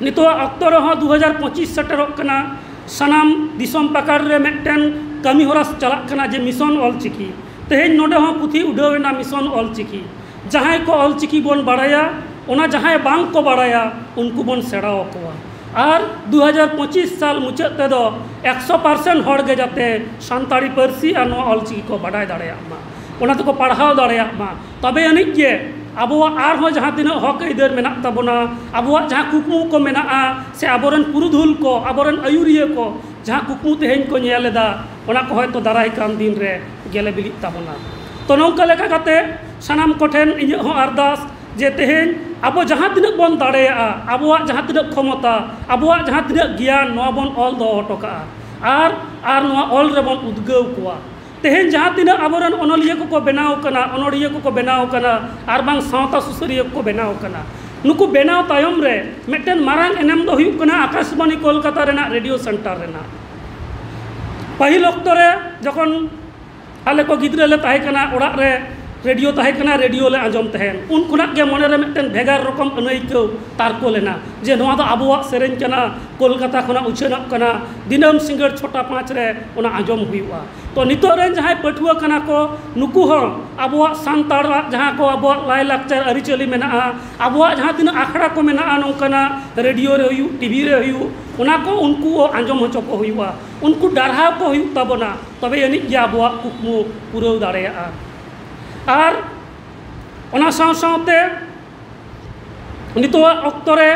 ᱱᱤᱛᱚᱜ ᱟᱜ ᱚᱠᱛᱚ ᱨᱮᱦᱚᱸ ᱫᱩ ᱦᱟᱡᱟᱨ ᱯᱚᱸᱪᱤᱥ ᱥᱮᱴᱮᱨᱚᱜ ᱠᱟᱱᱟ ᱥᱟᱱᱟᱢ ᱫᱤᱥᱚᱢ ᱯᱟᱠᱟᱲ ᱨᱮ ᱢᱤᱫᱴᱮᱱ ᱠᱟᱹᱢᱤ ᱦᱚᱨᱟ ᱪᱟᱞᱟᱜ ᱠᱟᱱᱟ ᱡᱮ ᱢᱤᱥᱚᱱ ᱚᱞ ᱪᱤᱠᱤ ᱛᱮᱦᱮᱧ ᱱᱚᱰᱮ ᱦᱚᱸ ᱯᱩᱛᱷᱤ ᱩᱰᱷᱟᱹᱣ ᱮᱱᱟ ᱢᱤᱥᱚᱱ ᱚᱞ ᱪᱤᱠᱤ ᱡᱟᱦᱟᱸᱭ ᱠᱚ ᱚᱞ ᱪᱤᱠᱤ ᱵᱚᱱ ᱵᱟᱲᱟᱭᱟ ᱚᱱᱟ ᱡᱟᱦᱟᱸᱭ ᱵᱟᱝ ᱠᱚ ᱵᱟᱲᱟᱭᱟ ᱩᱱᱠᱩ ᱵᱚᱱ ᱥᱮᱬᱟ ᱟᱠᱚᱣᱟ ᱟᱨ ᱫᱩ ᱦᱟᱡᱟᱨ ᱯᱚᱸᱪᱤᱥ ᱥᱟᱞ ᱢᱩᱪᱟᱹᱫ ᱛᱮᱫᱚ ᱮᱠᱥᱚ ᱯᱟᱨᱥᱮᱱ ᱦᱚᱲ ᱜᱮ ᱡᱟᱛᱮ ᱥᱟᱱᱛᱟᱲᱤ ᱯᱟᱹᱨᱥᱤ ᱟᱨ ᱱᱚᱣᱟ ᱚᱞ ᱪᱤᱠᱤ ᱠᱚ ᱵᱟᱰᱟᱭ ᱫᱟᱲᱮᱭᱟᱜ ᱢᱟ ᱚᱱᱟ ᱛᱮᱠᱚ ᱯᱟᱲᱦᱟᱣ ᱫᱟᱲᱮᱭᱟᱜ ᱢᱟ ᱛᱚᱵᱮ ᱟᱹᱱᱤᱡ ᱜᱮ ᱟᱵᱚᱣᱟᱜ ᱟᱨᱦᱚᱸ ᱡᱟᱦᱟᱸ ᱛᱤᱱᱟᱹᱜ ᱦᱚᱸᱠ ᱟᱹᱭᱫᱟᱹᱨ ᱢᱮᱱᱟᱜ ᱛᱟᱵᱚᱱᱟ ᱟᱵᱚᱣᱟᱜ ᱡᱟᱦᱟᱸ ᱠᱩᱠᱢᱩ ᱠᱚ ᱢᱮᱱᱟᱜᱼᱟ ᱥᱮ ᱟᱵᱚ ᱨᱮᱱ ᱯᱩᱨᱩᱫᱷᱩᱞ ᱠᱚ ᱟᱵᱚ ᱨᱮᱱ ᱟᱹᱭᱩᱨᱤᱭᱟᱹ ᱠᱚ ᱡᱟᱦᱟᱸ ᱠᱩᱠᱢᱩ ᱛᱮᱦᱮᱧ ᱠᱚ ᱧᱮᱞ ᱮᱫᱟ ᱚᱱᱟ ᱠᱚ ᱦᱳᱭᱛᱳ ᱫᱟᱨᱟᱭ ᱠᱟᱱ ᱫᱤᱱ ᱨᱮ ᱜᱮᱞᱮ ᱵᱤᱞᱤᱜ ᱛᱟᱵᱚᱱᱟ ᱛᱚ ᱱᱚᱝᱠᱟ ᱞᱮᱠᱟ ᱠᱟᱛᱮ ᱥᱟᱱᱟᱢ ᱠᱚᱴᱷᱮᱱ ᱤᱧᱟᱹᱜ ᱦᱚᱸ ᱟᱨᱫᱟᱥ ᱡᱮ ᱛᱮᱦᱮᱧ ᱟᱵᱚ ᱡᱟᱦᱟᱸ ᱛᱤᱱᱟᱹᱜ ᱵᱚᱱ ᱫᱟᱲᱮᱭᱟᱜᱼᱟ ᱟᱵᱚᱣᱟᱜ ᱡᱟᱦᱟᱸ ᱛᱤᱱᱟᱹᱜ ᱠᱷᱚᱢᱚᱛᱟ ᱟᱵᱚᱣᱟᱜ ᱡᱟᱦᱟᱸ ᱛᱤᱱᱟᱹᱜ ᱜᱮᱭᱟᱱ ᱱᱚᱣᱟ ᱵᱚᱱ ᱚᱞ ᱫᱚᱦᱚ ᱦᱚᱴᱚ ᱠᱟᱜᱼᱟ ᱟᱨ ᱟᱨ ᱱᱚᱣᱟ ᱚᱞ ᱨᱮᱵᱚᱱ ᱩᱫᱽᱜᱟᱹᱣ ᱠᱚᱣᱟ ᱛᱮᱦᱮᱧ ᱡᱟᱦᱟᱸ ᱛᱤᱱᱟᱹᱜ ᱟᱵᱚ ᱨᱮᱱ ᱚᱱᱚᱞᱤᱭᱟᱹ ᱠᱚᱠᱚ ᱵᱮᱱᱟᱣ ᱠᱟᱱᱟ ᱚᱱᱚᱲᱦᱤᱭᱟᱹ ᱠᱚᱠᱚ ᱵᱮᱱᱟᱣ ᱠᱟᱱᱟ ᱟᱨ ᱵᱟᱝ ᱥᱟᱶᱛᱟ ᱥᱩᱥᱟᱹᱨᱤᱭᱟᱹ ᱠᱚᱠᱚ ᱵᱮᱱᱟᱣ ᱠᱟᱱᱟ ᱱᱩᱠᱩ ᱵᱮᱱᱟᱣ ᱛᱟᱭᱚᱢ ᱨᱮ ᱢᱤᱫᱴᱮᱱ ᱢᱟᱨᱟᱝ ᱮᱱᱮᱢ ᱫᱚ ᱦᱩᱭᱩᱜ ᱠᱟᱱᱟ ᱟᱠᱟᱥᱵᱟᱱᱤ ᱠᱳᱞᱠᱟᱛᱟ ᱨᱮᱱᱟᱜ ᱨᱮᱰᱤᱭᱳ ᱥᱮᱱᱴᱟᱨ ᱨᱮᱱᱟᱜ ᱯᱟᱹᱦᱤᱞ ᱚᱠᱛᱚ ᱨᱮ ᱡᱚᱠᱷᱚᱱ ᱟᱞᱮ ᱠᱚ ᱜᱤᱫᱽᱨᱟᱹ ᱞᱮ ᱛᱟᱦᱮᱸ ᱠᱟᱱᱟ ᱚᱲᱟᱜ ᱨᱮ ᱨᱮᱰᱤᱭᱳ ᱛᱟᱦᱮᱸ ᱠᱟᱱᱟ ᱨᱮᱰᱤᱭᱳ ᱞᱮ ᱟᱸᱡᱚᱢ ᱛᱟᱦᱮᱸᱫ ᱩᱱ ᱠᱷᱚᱱᱟᱜ ᱜᱮ ᱢᱚᱱᱮ ᱨᱮ ᱢᱤᱫᱴᱮᱱ ᱵᱷᱮᱜᱟᱨ ᱨᱚᱠᱚᱢ ᱟᱹᱱᱟᱹᱭᱠᱟᱹᱣ ᱛᱟᱨᱠᱳ ᱞᱮᱱᱟ ᱡᱮ ᱱᱚᱣᱟ ᱫᱚ ᱟᱵᱚᱣᱟᱜ ᱥᱮᱨᱮᱧ ᱠᱟᱱᱟ ᱠᱳᱞᱠᱟᱛᱟ ᱠᱷᱚᱱᱟᱜ ᱩᱪᱷᱟᱹᱱᱚᱜ ᱠᱟᱱᱟ ᱫᱤᱱᱟᱹᱢ ᱥᱤᱸᱜᱟᱹᱲ ᱪᱷᱚᱴᱟ ᱯᱟᱸᱪ ᱨᱮ ᱚᱱᱟ ᱟᱸᱡᱚᱢ ᱦᱩᱭᱩᱜᱼᱟ ᱛᱚ ᱱᱤᱛᱚᱜ ᱨᱮᱱ ᱡᱟᱦᱟᱸᱭ ᱯᱟᱹᱴᱷᱩᱣᱟᱹ ᱠᱟᱱᱟ ᱠᱚ ᱱᱩᱠᱩ ᱦᱚᱸ ᱟᱵᱚᱣᱟᱜ ᱥᱟᱱᱛᱟᱲᱟᱜ ᱡᱟᱦᱟᱸ ᱠᱚ ᱟᱵᱚᱣᱟᱜ ᱞᱟᱭᱼᱞᱟᱠᱪᱟᱨ ᱟᱹᱨᱤᱪᱟᱹᱞᱤ ᱢᱮᱱᱟᱜᱼᱟ ᱟᱵᱚᱣᱟᱜ ᱡᱟᱦᱟᱸ ᱛᱤᱱᱟᱹᱜ ᱟᱠᱷᱲᱟ ᱠᱚ ᱢᱮᱱᱟᱜᱼᱟ ᱱᱚᱝᱠᱟᱱᱟᱜ ᱨᱮᱰᱤᱭᱳ ᱨᱮ ᱦᱩᱭᱩᱜ ᱴᱤᱵᱷᱤ ᱨᱮ ᱦᱩᱭᱩᱜ ᱚᱱᱟ ᱠᱚ ᱩᱱᱠᱩ ᱦᱚᱸ ᱟᱸᱡᱚᱢ ᱦᱚᱪᱚ ᱠᱚ ᱦᱩᱭᱩᱜᱼᱟ ᱩᱱᱠᱩ ᱰᱟᱨᱦᱟᱣ ᱠᱚ ᱦᱩᱭᱩᱜ ᱛᱟᱵᱚᱱᱟ ᱛᱚᱵᱮ ᱟᱹᱱᱤᱡ ᱜᱮ ᱟᱵᱚᱣᱟᱜ ᱠᱩᱠᱢᱩ ᱯᱩᱨᱟᱹᱣ ᱫᱟᱲᱮᱭᱟᱜᱼᱟ ᱟᱨ ᱚᱱᱟ ᱥᱟᱶ ᱥᱟᱶᱛᱮ ᱱᱤᱛᱚᱜ ᱟᱜ ᱚᱠᱛᱚ ᱨᱮ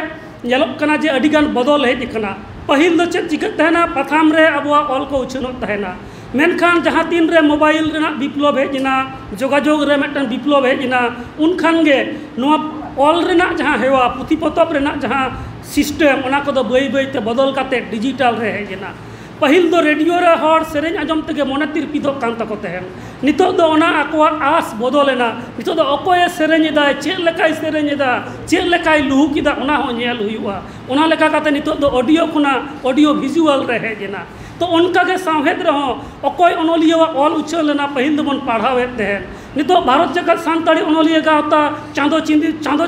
ᱧᱮᱞᱚᱜ ᱠᱟᱱᱟ ᱡᱮ ᱟᱹᱰᱤ ᱜᱟᱱ ᱵᱚᱫᱚᱞ ᱦᱮᱡ ᱟᱠᱟᱱᱟ ᱯᱟᱹᱦᱤᱞ ᱫᱚ ᱪᱮᱫ ᱪᱤᱠᱟᱹᱜ ᱛᱟᱦᱮᱱᱟ ᱯᱟᱛᱷᱟᱢ ᱨᱮ ᱟᱵᱚᱣᱟᱜ ᱚᱞ ᱠᱚ ᱩᱪᱷᱟᱹᱱᱚᱜ ᱛᱟᱦᱮᱱᱟ ᱢᱮᱱᱠᱷᱟᱱ ᱡᱟᱦᱟᱸ ᱛᱤᱱ ᱨᱮ ᱢᱳᱵᱟᱭᱤᱞ ᱨᱮᱱᱟᱜ ᱵᱤᱯᱞᱚᱵᱽ ᱦᱮᱡ ᱮᱱᱟ ᱡᱳᱜᱟᱡᱳᱜᱽ ᱨᱮ ᱢᱤᱫᱴᱟᱱ ᱵᱤᱯᱞᱚᱵᱽ ᱦᱮᱡ ᱮᱱᱟ ᱩᱱ ᱠᱷᱟᱱ ᱜᱮ ᱱᱚᱣᱟ ᱚᱞ ᱨᱮᱱᱟᱜ ᱡᱟᱦᱟᱸ ᱦᱮᱣᱟ ᱯᱩᱛᱷᱤ ᱯᱚᱛᱚᱵ ᱨᱮᱱᱟᱜ ᱡᱟᱦᱟᱸ ᱥᱤᱥᱴᱮᱢ ᱚᱱᱟ ᱠᱚᱫᱚ ᱵᱟᱹᱭ ᱵᱟᱹᱭ ᱛᱮ ᱵᱚᱫᱚᱞ ᱠᱟᱛᱮᱫ ᱰᱤᱡᱤᱴᱟᱞ ᱨᱮ ᱦᱮᱡ ᱮᱱᱟ ᱯᱟᱹᱦᱤᱞ ᱫᱚ ᱨᱮᱰᱤᱭᱳ ᱨᱮ ᱦᱚᱲ ᱥᱮᱨᱮᱧ ᱟᱸᱡᱚᱢ ᱛᱮᱜᱮ ᱢᱚᱱᱮ ᱛᱤᱨᱯᱤᱫᱚᱜ ᱠᱟᱱ ᱛᱟᱠᱚ ᱛᱟᱦᱮᱸᱫ ᱱᱤᱛᱚᱜ ᱫᱚ ᱚᱱᱟ ᱟᱠᱚᱣᱟᱜ ᱟᱥ ᱵᱚᱫᱚᱞ ᱮᱱᱟ ᱱᱤᱛᱚᱜ ᱫᱚ ᱚᱠᱚᱭᱮ ᱥᱮᱨᱮᱧ ᱮᱫᱟᱭ ᱪᱮᱫ ᱞᱮᱠᱟᱭ ᱥᱮᱨᱮᱧ ᱮᱫᱟ ᱪᱮᱫ ᱞᱮᱠᱟᱭ ᱞᱩᱦᱩᱠ ᱮᱫᱟ ᱚᱱᱟ ᱦᱚᱸ ᱧᱮᱞ ᱦᱩᱭᱩᱜᱼᱟ ᱚᱱᱟ ᱞᱮᱠᱟ ᱠᱟᱛᱮᱫ ᱱᱤᱛᱚᱜ ᱫᱚ ᱚᱰᱤᱭᱳ ᱠᱷᱚᱱᱟᱜ ᱚᱰᱤᱭᱳ ᱵᱷᱤᱡᱩᱣᱟᱞ ᱨᱮ ᱦᱮᱡ ᱮᱱᱟ ᱛᱚ ᱚᱱᱠᱟ ᱜᱮ ᱥᱟᱶᱦᱮᱫ ᱨᱮᱦᱚᱸ ᱚᱠᱚᱭ ᱚᱱᱚᱞᱤᱭᱟᱹ ᱟᱜ ᱚᱞ ᱩᱪᱷᱟᱹᱱ ᱞᱮᱱᱟ ᱯᱟᱹᱦᱤᱞ ᱫᱚᱵᱚᱱ ᱯᱟᱲᱦᱟᱣᱮᱫ ᱛᱟᱦᱮᱸᱫ ᱱᱤᱛᱚᱜ ᱵᱷᱟᱨᱚᱛ ᱡᱟᱠᱟᱛ ᱥᱟᱱᱛᱟᱲᱤ ᱚᱱᱚᱞᱤᱭᱟᱹ ᱜᱟᱶᱛᱟ ᱪᱟᱸᱫᱚ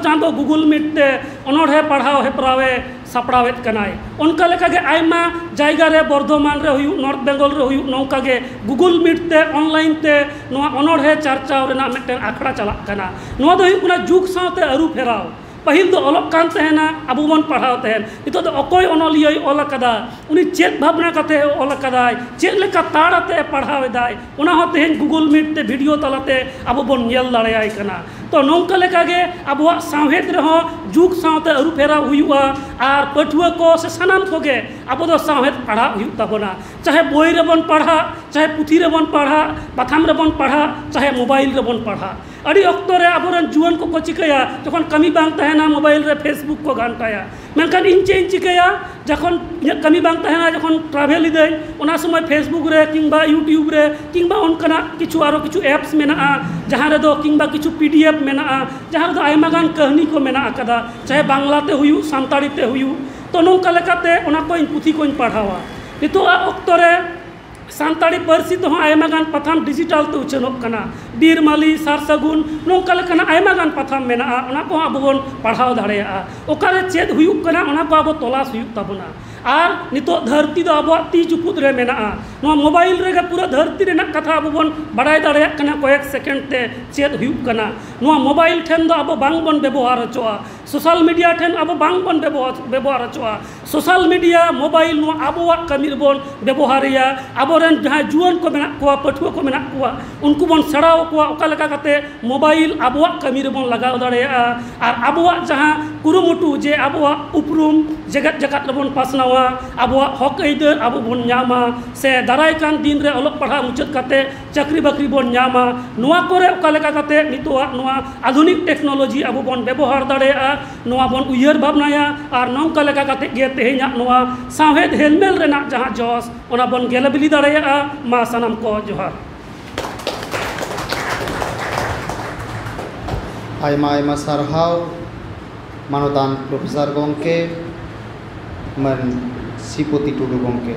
ᱪᱟᱸᱫᱚ ᱜᱩᱜᱩᱞ ᱢᱤᱴ ᱛᱮ ᱚᱱᱚᱬᱦᱮ ᱯᱟᱲᱦᱟᱣ ᱦᱮᱯᱨᱟᱣᱮ ᱥᱟᱯᱲᱟᱣᱮᱫ ᱠᱟᱱᱟᱭ ᱚᱱᱠᱟ ᱞᱮᱠᱟᱜᱮ ᱟᱭᱢᱟ ᱡᱟᱭᱜᱟ ᱨᱮ ᱵᱚᱨᱫᱷᱚᱢᱟᱱ ᱨᱮ ᱦᱩᱭᱩᱜ ᱱᱚᱨᱛᱷ ᱵᱮᱝᱜᱚᱞ ᱨᱮ ᱦᱩᱭᱩᱜ ᱱᱚᱝᱠᱟ ᱜᱮ ᱜᱩᱜᱩᱞ ᱢᱤᱴ ᱛᱮ ᱚᱱᱞᱟᱭᱤᱱ ᱛᱮ ᱱᱚᱣᱟ ᱚᱱᱚᱬᱦᱮ ᱪᱟᱨᱪᱟᱣ ᱨᱮᱱᱟᱜ ᱢᱤᱫᱴᱮᱱ ᱟᱠᱷᱲᱟ ᱪᱟᱞᱟᱜ ᱠᱟᱱᱟ ᱱᱚᱣᱟ ᱫᱚ ᱦᱩᱭᱩᱜ ᱠᱟᱱᱟ ᱡᱩᱜᱽ ᱥᱟᱶᱛᱮ ᱟᱹᱨᱩ ᱯᱷᱮᱨᱟᱣ ᱯᱟᱹᱦᱤᱞ ᱫᱚ ᱚᱞᱚᱜ ᱠᱟᱱ ᱛᱟᱦᱮᱱᱟ ᱟᱵᱚ ᱵᱚᱱ ᱯᱟᱲᱦᱟᱣ ᱛᱟᱦᱮᱸᱫ ᱱᱤᱛᱚᱜ ᱫᱚ ᱚᱠᱚᱭ ᱚᱱᱚᱞᱤᱭᱟᱹᱭ ᱚᱞ ᱠᱟᱫᱟ ᱩᱱᱤ ᱪᱮᱫ ᱵᱷᱟᱵᱽᱱᱟ ᱠᱟᱛᱮᱫ ᱮ ᱚᱞ ᱠᱟᱫᱟᱭ ᱪᱮᱫ ᱞᱮᱠᱟ ᱛᱟᱲ ᱟᱛᱮᱫ ᱮ ᱯᱟᱲᱦᱟᱣ ᱮᱫᱟᱭ ᱚᱱᱟ ᱦᱚᱸ ᱛᱮᱦᱮᱧ ᱜᱩᱜᱩᱞ ᱢᱤᱴ ᱛᱮ ᱵᱷᱤᱰᱤᱭᱳ ᱛᱟᱞᱟᱛᱮ ᱟᱵᱚ ᱵᱚᱱ ᱧᱮᱞ ᱫᱟᱲᱮᱭᱟᱭ ᱠᱟᱱᱟ ᱛᱚ ᱱᱚᱝᱠᱟ ᱞᱮᱠᱟᱜᱮ ᱟᱵᱚᱣᱟᱜ ᱥᱟᱶᱦᱮᱫ ᱨᱮᱦᱚᱸ ᱡᱩᱜᱽ ᱥᱟᱶᱛᱮ ᱟᱹᱨᱩ ᱯᱷᱮᱨᱟᱣ ᱦᱩᱭᱩᱜᱼᱟ ᱟᱨ ᱯᱟᱹᱴᱷᱩᱣᱟᱹ ᱠᱚ ᱥᱮ ᱥᱟᱱᱟᱢ ᱠᱚᱜᱮ ᱟᱵᱚ ᱫᱚ ᱥᱟᱶᱦᱮᱫ ᱯᱟᱲᱦᱟᱜ ᱦᱩᱭᱩᱜ ᱛᱟᱵᱚᱱᱟ ᱪᱟᱦᱮ ᱵᱳᱭ ᱨᱮᱵᱚᱱ ᱯᱟᱲᱦᱟᱜ ᱪᱟᱦᱮ ᱯᱩᱛᱷᱤ ᱨᱮᱵᱚᱱ ᱯᱟᱲᱦᱟᱜ ᱯᱟᱛᱷᱟᱢ ᱨᱮᱵᱚᱱ ᱯᱟᱲᱦᱟᱜ ᱪᱟᱦᱮ ᱢᱳᱵᱟᱭᱤᱞ ᱨᱮᱵᱚᱱ ᱯᱟᱲᱦᱟᱜ ᱟᱹᱰᱤ ᱚᱠᱛᱚ ᱨᱮ ᱟᱵᱚᱨᱮᱱ ᱡᱩᱣᱟᱹᱱ ᱠᱚᱠᱚ ᱪᱤᱠᱟᱹᱭᱟ ᱡᱚᱠᱷᱚᱱ ᱠᱟᱹᱢᱤ ᱵᱟᱝ ᱛᱟᱦᱮᱱᱟ ᱢᱳᱵᱟᱭᱤᱞ ᱨᱮ ᱯᱷᱮᱥᱵᱩᱠ ᱠᱚ ᱜᱷᱟᱱᱴᱟᱭᱟ ᱢᱮᱱᱠᱷᱟᱱ ᱤᱧ ᱪᱮᱫ ᱤᱧ ᱪᱤᱠᱟᱹᱭᱟ ᱡᱚᱠᱷᱚᱱ ᱤᱧᱟᱹᱜ ᱠᱟᱹᱢᱤ ᱵᱟᱝ ᱛᱟᱦᱮᱱᱟ ᱡᱚᱠᱷᱚᱱ ᱴᱨᱟᱵᱷᱮᱞ ᱮᱫᱟᱹᱧ ᱚᱱᱟ ᱥᱚᱢᱚᱭ ᱯᱷᱮᱥᱵᱩᱠ ᱨᱮ ᱠᱤᱢᱵᱟ ᱤᱭᱩᱴᱩᱵᱽ ᱨᱮ ᱠᱤᱢᱵᱟ ᱚᱱᱠᱟᱱᱟᱜ ᱠᱤᱪᱷᱩ ᱟᱨᱚ ᱠᱤᱪᱷᱩ ᱮᱯᱥ ᱢᱮᱱᱟᱜᱼᱟ ᱡᱟᱦᱟᱸ ᱨᱮᱫᱚ ᱠᱤᱢᱵᱟ ᱠᱤᱪᱷᱩ ᱯᱤ ᱰᱤ ᱮᱯᱷ ᱢᱮᱱᱟᱜᱼᱟ ᱡᱟᱦᱟᱸ ᱨᱮᱫᱚ ᱟᱭᱢᱟ ᱜᱟᱱ ᱠᱟᱹᱦᱱᱤ ᱠᱚ ᱢᱮᱱᱟᱜ ᱟᱠᱟᱫᱟ ᱪᱟᱦᱮ ᱵᱟᱝᱞᱟ ᱛᱮ ᱦᱩᱭᱩᱜ ᱥᱟᱱᱛᱟᱲᱤ ᱛᱮ ᱦᱩᱭᱩᱜ ᱛᱚ ᱱᱚᱝᱠᱟ ᱞᱮᱠᱟᱛᱮ ᱚᱱᱟ ᱠᱚ ᱯᱩᱛᱷᱤ ᱠᱚᱧ ᱯᱟᱲᱦᱟᱣᱟ ᱱᱤᱛᱚᱜ ᱟᱜ ᱚᱠᱛᱚ ᱨᱮ ᱥᱟᱱᱛᱟᱲᱤ ᱯᱟᱹᱨᱥᱤ ᱛᱮᱦᱚᱸ ᱟᱭᱢᱟ ᱜᱟᱱ ᱯᱟᱛᱷᱟᱢ ᱰᱤᱡᱤᱴᱟᱞ ᱛᱮ ᱩᱪᱷᱟᱹᱱᱚᱜ ᱠᱟᱱᱟ ᱵᱤᱨ ᱢᱟᱹᱞᱤ ᱥᱟᱨ ᱥᱟᱹᱜᱩᱱ ᱱᱚᱝᱠᱟ ᱞᱮᱠᱟᱱᱟᱜ ᱟᱭᱢᱟ ᱜᱟᱱ ᱯᱟᱛᱷᱟᱢ ᱢᱮᱱᱟᱜᱼᱟ ᱚᱱᱟ ᱠᱚᱦᱚᱸ ᱟᱵᱚ ᱵᱚᱱ ᱯᱟᱲᱦᱟᱣ ᱫᱟᱲᱮᱭᱟᱜᱼᱟ ᱚᱠᱟᱨᱮ ᱪᱮᱫ ᱦᱩᱭᱩᱜ ᱠᱟᱱᱟ ᱚᱱᱟ ᱠᱚ ᱟᱵᱚ ᱛᱚᱞᱟᱥ ᱦᱩᱭᱩᱜ ᱛᱟᱵᱚᱱᱟ ᱟᱨ ᱱᱤᱛᱚᱜ ᱫᱷᱟᱹᱨᱛᱤ ᱫᱚ ᱟᱵᱚᱣᱟᱜ ᱛᱤ ᱪᱩᱯᱩᱫ ᱨᱮ ᱢᱮᱱᱟᱜᱼᱟ ᱱᱚᱣᱟ ᱢᱳᱵᱟᱭᱤᱞ ᱨᱮᱜᱮ ᱯᱩᱨᱟᱹ ᱫᱷᱟᱹᱨᱛᱤ ᱨᱮᱱᱟᱜ ᱠᱟᱛᱷᱟ ᱟᱵᱚ ᱵᱚᱱ ᱵᱟᱲᱟᱭ ᱫᱟᱲᱮᱭᱟᱜ ᱠᱟᱱᱟ ᱠᱚᱭᱮᱠ ᱥᱮᱠᱮᱱᱰ ᱛᱮ ᱪᱮᱫ ᱦᱩᱭᱩᱜ ᱠᱟᱱᱟ ᱱᱚᱣᱟ ᱢᱳᱵᱟᱭᱤᱞ ᱴᱷᱮᱱ ᱫᱚ ᱟᱵᱚ ᱵᱟᱝ ᱵᱚᱱ ᱵᱮᱵᱚᱦᱟᱨ ᱦᱚᱪᱚᱣᱟᱜᱼᱟ ᱥᱳᱥᱟᱞ ᱢᱤᱰᱤᱭᱟ ᱴᱷᱮᱱ ᱟᱵᱚ ᱵᱟᱝ ᱵᱚᱱ ᱵᱮᱵᱚᱦᱟᱨ ᱦᱚᱪᱚᱣᱟᱜᱼᱟ ᱥᱳᱥᱟᱞ ᱢᱤᱰᱤᱭᱟ ᱢᱳᱵᱟᱭᱤᱞ ᱱᱚᱣᱟ ᱟᱵᱚᱣᱟᱜ ᱠᱟᱹᱢᱤ ᱨᱮᱵᱚᱱ ᱵᱮᱵᱚᱦᱟᱨᱮᱭᱟ ᱟᱵᱚ ᱨᱮᱱ ᱡᱟᱦᱟᱸᱭ ᱡᱩᱣᱟᱹᱱ ᱠᱚ ᱢᱮᱱᱟᱜ ᱠᱚᱣᱟ ᱯᱟᱹᱴᱷᱩᱣᱟᱹ ᱠᱚ ᱢᱮᱱᱟᱜ ᱠᱚᱣᱟ ᱩᱱᱠᱩ ᱵᱚᱱ ᱥᱮᱬᱟ ᱟᱠᱚᱣᱟ ᱚᱠᱟ ᱞᱮᱠᱟ ᱠᱟᱛᱮᱫ ᱢᱳᱵᱟᱭᱤᱞ ᱟᱵᱚᱣᱟᱜ ᱠᱟᱹᱢᱤ ᱨᱮᱵᱚᱱ ᱞᱟᱜᱟᱣ ᱫᱟᱲᱮᱭᱟᱜᱼᱟ ᱟᱨ ᱟᱵᱚᱣᱟᱜ ᱡᱟᱦᱟᱸ ᱠᱩᱨᱩᱢᱩᱴᱩ ᱡᱮ ᱟᱵᱚᱣᱟᱜ ᱩᱯᱨᱩᱢ ᱡᱮᱜᱮᱛ ᱡᱟᱠᱟᱛ ᱨᱮᱵᱚᱱ ᱯᱟᱥᱱᱟᱣᱟ ᱟᱵᱚᱣᱟᱜ ᱦᱚᱸᱠ ᱟᱹᱭᱫᱟᱹᱨ ᱟᱵᱚ ᱵᱚᱱ ᱧᱟᱢᱟ ᱥᱮ ᱫᱟᱨᱟᱭ ᱠᱟᱱ ᱫᱤᱱ ᱨᱮ ᱚᱞᱚᱜ ᱯᱟᱲᱦᱟᱜ ᱢᱩᱪᱟᱹᱫ ᱠᱟᱛᱮᱫ ᱪᱟᱹᱠᱨᱤ ᱵᱟᱹᱠᱨᱤ ᱵᱚᱱ ᱧᱟᱢᱟ ᱱᱚᱣᱟ ᱠᱚᱨᱮᱫ ᱚᱠᱟ ᱞᱮᱠᱟ ᱠᱟᱛᱮᱫ ᱱᱤᱛᱚᱜ ᱟᱜ ᱱᱚᱣᱟ ᱟᱹᱫᱷᱩᱱᱤᱠ ᱴᱮᱠᱱᱳᱞᱚᱡᱤ ᱟᱵᱚ ᱵᱚᱱ ᱵᱮᱵᱚᱦᱟᱨ ᱫᱟᱲᱮᱭᱟᱜᱼᱟ ᱱᱚᱣᱟ ᱵᱚᱱ ᱩᱭᱦᱟᱹᱨ ᱵᱷᱟᱵᱽᱱᱟᱭᱟ ᱟᱨ ᱱᱚᱝᱠᱟ ᱞᱮᱠᱟ ᱠᱟᱛᱮᱫ ᱜᱮ ᱛᱮᱦᱮᱧᱟᱜ ᱱᱚᱣᱟ ᱥᱟᱶᱦᱮᱫ ᱦᱮᱞᱢᱮᱞ ᱨᱮᱱᱟᱜ ᱡᱟᱦᱟᱸ ᱡᱚᱥ ᱚᱱᱟ ᱵᱚᱱ ᱜᱮᱞᱮ ᱵᱤᱞᱤ ᱫᱟᱲᱮᱭᱟᱜᱼᱟ ᱢᱟ ᱥᱟᱱᱟᱢ ᱠᱚ ᱡᱚᱦᱟᱨ ᱟᱭᱢᱟ ᱟᱭᱢᱟ ᱥᱟᱨᱦᱟᱣ ᱢᱟᱱᱚᱛᱟᱱ ᱯᱨᱚᱯᱷᱮᱥᱟᱨ ᱜᱚᱢᱠᱮ ᱢᱟᱱ ᱥᱨᱤᱯᱚᱛᱤ ᱴᱩᱰᱩ ᱜᱚᱢᱠᱮ